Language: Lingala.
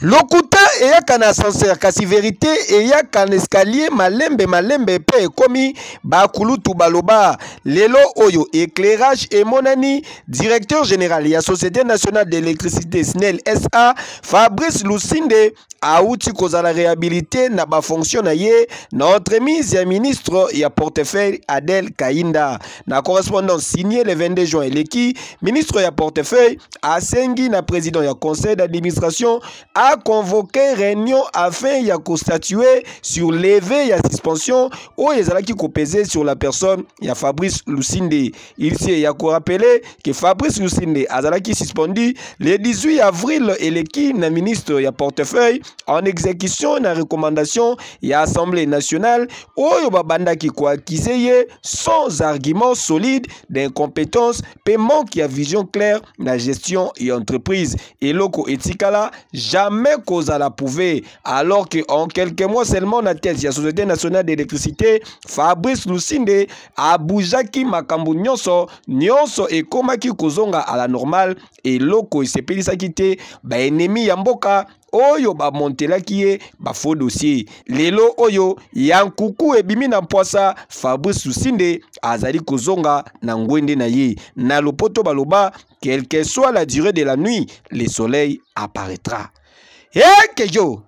lokuta eyaka na ascenseur kasi verite eyaka na escalier malembe malembe mpe ekomi bakulutu baloba lelo oyo éclairage emonani directeur général ya société nationale d'électricité snel sa fabrice lusinde auti kozala réhabilité na bafonction na ye na entremise ya ministre ya portefeuille adel kainda Na correspondance signée le 22 juin eleki, ministre ya portefeuille asengi na président ya conseil d'administration a convoquer réunion afin ya ko statuer sur levée ya suspension oyo ezalaki ko peser sur la personne ya Fabrice Lusinde. Il s'est ya ko rappeler que Fabrice Lusinde azalaki suspendu le 18 avril eleki na ministre ya portefeuille en exécution na recommandation ya Assemblée nationale oyo babandaki koakize ye sans argument solide d'incompétence mpe manque ya vision claire na gestion ya entreprise eloko etikala jamais kozala prouve alors que en quelques mois seulement na tete ya société nationale d'électricité fabrice lusinde aboujaki makambo nyonso nyonso ekomaki kozonga à la normale eloko esepelisaki te baennemi ya mboka oyo bamontelaki ye bafaux dossier lelo oyo ya nkuku ebimi na mpwasa fabrice susinde azali kozonga na ngwende na ye na lopoto baloba quelque soit la durée de la nuit le soleil apparaîtra ekejo hey,